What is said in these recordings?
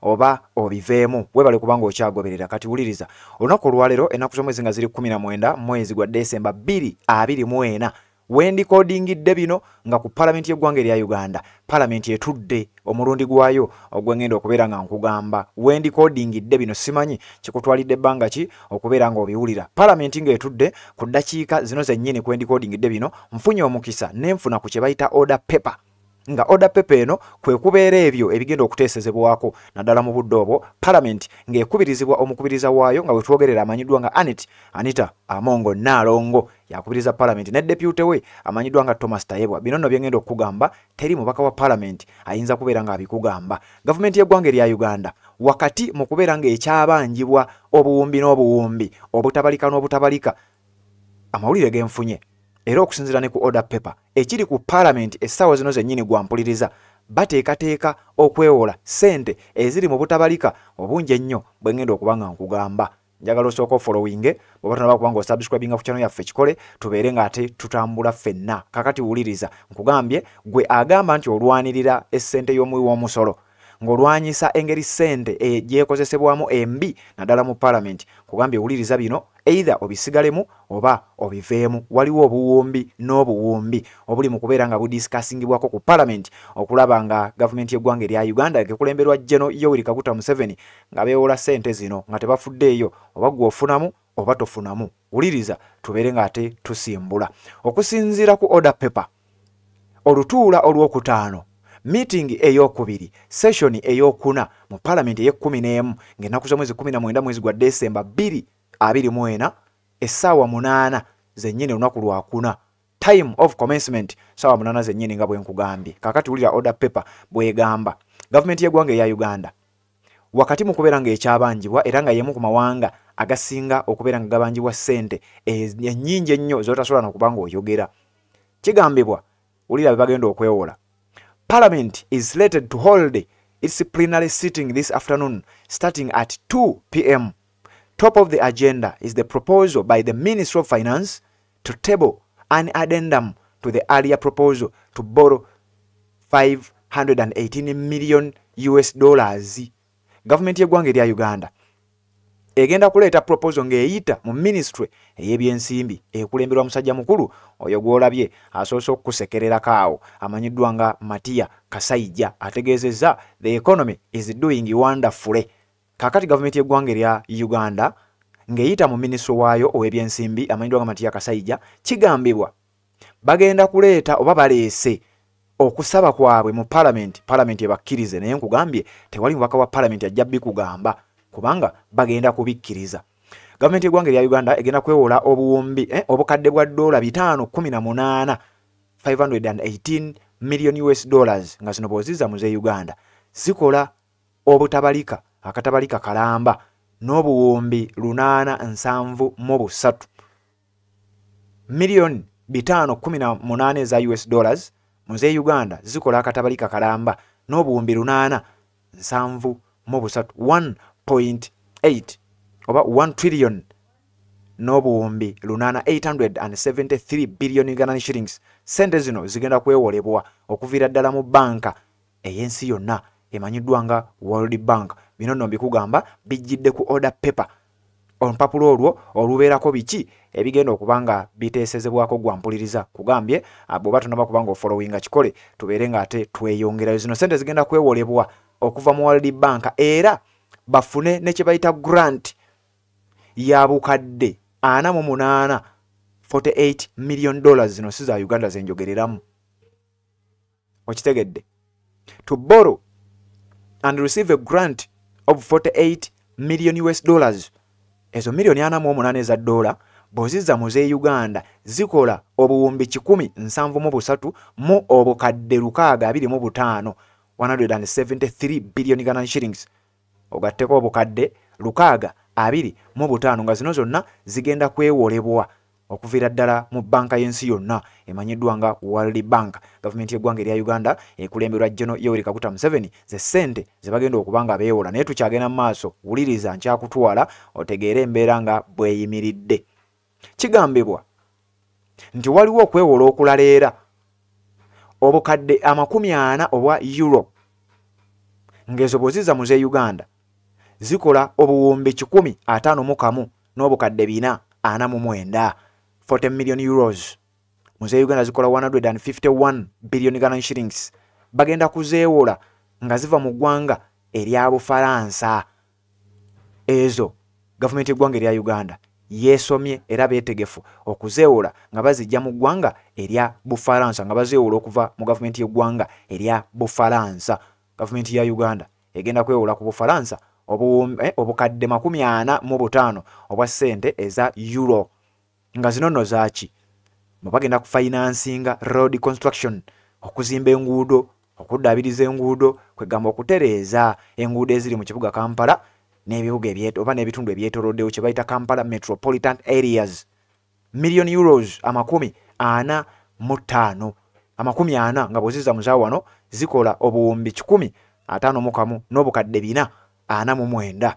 oba obiveemu webale kubanga okyagoberera kati wuliriza olunaku olwalero enaku zomwezi nga ziri 19 mwezi gwa desemba 224 wendikodingidde bino nga ku palamenti yeggwanga erya uganda palamenti etudde omulundi gwayo ogwengenda okubeera nga nkugamba wendikodingidde bino simanyi kikutwalidde ebbanga ki okubeera nga obiwulira palamenti ngaetudde ku ddakiika zino zennyini kwendikodingidde bino nfunye omukisa nenfuna ku kyebayita order paper nga oda pepa eno kwe kubeera ebyo ebigenda okuteesezebwako naddala mu budde obwo palamenti ng'ekubirizibwa omukubiriza waayo nga wetwogerera amanyiddwa nga anet anita amongo naalongo yakubiriza palamenti ne depute we amanyiddwa nga thomas tayebwa bino nno byengenda okukugamba teri mubaka wa palamenti ayinza kubeera ng'abikugamba gavumenti y'eggwanga erya uganda wakati mu kubeera ng'ekyabanjibwa obuwumbi n'obuwumbi obutabalika n'obutabalika amawulire genfunye era okusinzira ne ku order paper ekiri ku parliament essaawa zino zennyini gwampuliriza bateekateeka okwewola ssente eziri mu butabalika obungi ennyo bwe ngenda okuba nga nkugamba njagala osooka ofolowinge bweba tonaba kuba nga osubscribinga ku kyano yaffe kikole tubeere nga ate tutambula ffenna kakati wuliriza nkugambye gwe agamba nti olwanirira essente y'omuwi w'omusolo ng'olwanyisa engeri ssente e, gyekozesebwamu embi naddala mu palamenti kugambye wuliriza bino either obisigalemu oba obiveemu waliwo obuwumbi n'obuwumbi obuli mu kubeera nga budisikasingibwako ku palamenti okulaba nga gavumenti y'eggwanga erya uganda ekulemberwa jeno yoweri kaguta museveni nga beewola ssente zino nga tebafuddeeyo oba gwe ofunamu oba tofunamu wuliriza tubeere nga ate tusimbula okusinziira ku order paper olutuula olwokutaano meeting eyokubiri session eyokuna mu palamenti eyekumi n'emu ng'ennaku z'omwezi kumi na mwenda mwezi gwa desemba bbiri abiri mu ena essaawa munaana zennyini olunaku lwakuna time of commencement saawa munaana zennyini nga bwe nkugambye kaakati wulira order paper bwegamba gavumenti y'eggwanga eya uganda wakati mu kubeera ng'ekyabanjibwa era nga y'emu ku mawanga agasinga okubeera nga gabanjibwa ssente ennyingi ennyo z'otasobola nokuba ng'oyogera kigambibwa wulira be bagenda okwewola parliament is slated to hold its plenary sitting this afternoon starting at 2 pm top of the agenda is the proposal by the ministry of finance to table an addendum to the earlier proposal to borrow 518 million us dollars gavumenti y'eggwanga erya uganda egenda kuleeta proposal ng'eyita mu ministry ey'ebyensimbi ekulemberwa musajja mukulu oyo gw'olabye asoose okukusekererako awo amanyiddwa nga matiya kasaija ategeezezza the economy is doing wonderfully Kakati gavumenti y'eggwanga erya Uganda ng'eyita mu minisitule waayo ow'ebyensimbi amanyiddwa nga Matiya Kasaija kigambibwa bagenda kuleeta oba baleese okusaba kwabwe mu palamenti palamenti ebakkirize naye nkugambye tewali mubaka wa palamenti ajja bikugamba kubanga bagenda kubikkiriza gavumenti y'eggwanga erya uganda egenda kwewola obuwumbi eh, obukadde bwa dola bitaano kumi na munaana 518 million us dollars nga zino bwozizza mu z'e uganda zikola obutabalika akatabalika kalamba n'obuwumbi lunaana nsanvu mu busatu miliyoni bitaano kumi na munaana eza us dollars mu z'e uganda zikola akatabalika kalamba n'obuwumbi lunaana nsanvu mu busatu 1.8 oba 1 trillion n'obuwumbi lunaana 873 billion ugandan shillings sente zino zigenda kwewolebwa okuviira ddala mu banka ey'ensi yonna emanyiddwa nga world bank bino nno mbikugamba bijjidde ku order paper olupapula olwo olubeerako biki ebigenda okuba nga biteesezebwako gwa mpuliriza kugambye ah, bw'oba tonaba kuba nga ofolowinga kikole tubeere ng'ate tweyongerayo zino sente zigenda kwewolebwa okuva mu world bank era bafune ne kye bayita grant ya bukadde ana mu munaana 48 million dollars zino si za uganda zenjogereramu okitegedde to borrow and receive a grant of 48 million us dollars ezo miliyoni ana mu omunaana eza doola bwozizza mu z'e uganda zikola obuwumbi kikumi nsanvu mu busatu mu obukadde lukaaga abiri mu butaano 173 billion ganan shillings ogatteko obukadde lukaaga abiri mu butaano nga zino zonna zigenda kwewolebwa okuviira ddala mu bbanka y'ensi yonna emanyiddwa nga world bank gavumenti y'eggwanga erya uganda ekulemberwa geno yoweri kaguta museveni ze ssente ze bagenda okuba nga beewola naye tukyagenda mu maaso wuliriza nkyakutwala otegeere embeera nga bweyimiridde kigambibwa nti waliwo okwewola okulala era obukadde amakumi ana obwa euro ng'ezo bweziza mu z'e uganda zikola obuwumbi kikumi ataano mu kamu n'obukadde bina ana mu mwenda 40 million euros mu z'e uganda zikola 151 billion galan shillings bagenda kuzeewola nga ziva mu ggwanga erya bufaransa ezo gavumenti y'eggwanga erya uganda yeesomye era beetegefu okuzeewola nga bazijja mu ggwanga erya bufalansa nga bazeewola okuva mu gavumenti y'eggwanga erya bufalansa gavumenti ya uganda egenda kwewola ku bufalansa eh, obukadde makumi ana mu butaano obwa ssente eza euro nga zino nno zaaki mwe bagenda kufinansinga road construction okuzimba enguudo okuddaabiriza enguudo kwegamba okutereeza enguudo eziri mu kibuga kampala n'ebibuga oba n'ebitundu ebyetoloddewo kye bayita kampala metropolitan areas million euros amakumi ana mu ttaano amakumi ana nga bweziza muza wano zikola obuwumbi kikumi ataano mu kamu n'obukadde bina ana mu mwenda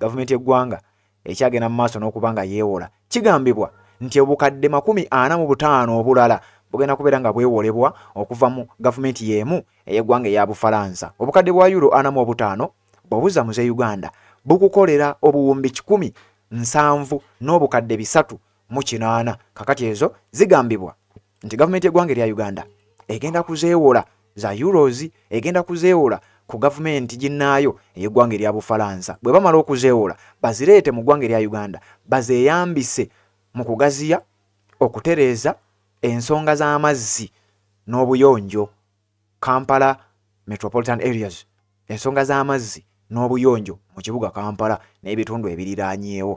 gavumenti y'eggwanga ekyagenda mu maaso n'okuba nga yeewola kigambibwa nti obukadde makumi ana mu butaano obulala bugenda kubeera nga bwewolebwa okuva mu gavumenti y'emu ey'eggwanga eya bufalansa obukadde bwa yuro ana mu obutaano bwebuza mu z'e uganda bukukolera obuwumbi kikumi nsanvu n'obukadde bisatu mu kinaana kakati ezo zigambibwa nti gavumenti y'eggwanga erya uganda egenda kuzeewola za euros egenda kuzeewola ku gavumenti ginnaayo ey'eggwanga erya bufalansa bwe bamala okuzeewola bazireete mu ggwanga erya uganda bazeeyambise mu kugaziya okutereeza ensonga z'amazzi n'obuyonjo kampala metropolitan areas ensonga z'amazzi n'obuyonjo mu kibuga kampala n'ebitundu ebiriraanyeewo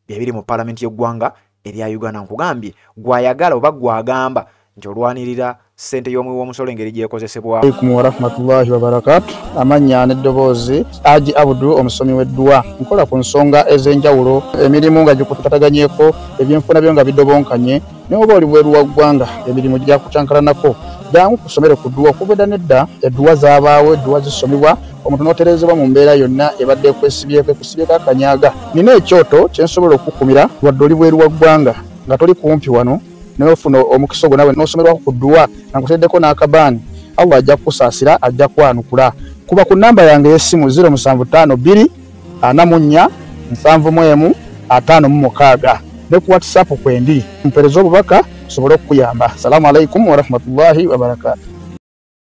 byebiri mu palamenti y'eggwanga erya uganda nkugambye gwayagala oba gwagamba nti olwanirira sente y'omuwi w'omusolo engeri gyekozesebwaaikum warahmatullahi wabarakatu amannya n'eddoboozi aji abudu omusomi w'eddwa nkola ku nsonga ez'enjawulo emirimu nga gikutataganyeko ebyenfuna byo nga bidobonkanye naye oba oli bweru wa ggwanga emirimu gyakucankalanako jangu ku ssomero ku dduwa okubeda nedda edduwa zabaawo edduwa zisomebwa omuntu n'otereezebwa mu mbeera yonna ebadde ekwesibyeko ekusibyeko akanyaga nina ekyoto kye nsobola okukukumira wadde oli bweru wa ggwanga nga toli kumpi wano naye ofuna omukisa ogwo nawe n'osomerwako ku dduwa nga nkuteeddeko n'akabaani allah ajja kukusaasira ajja kwanukula kuba ku nnamba yange ey'essimu 075 2 ana mu nnya nsanvu mu emu ataano mu mukaaga ne ku whatsapp kwendi mpereza obubaka nsobole okukuyamba assalamu alaikum warahmatullahi wabarakatu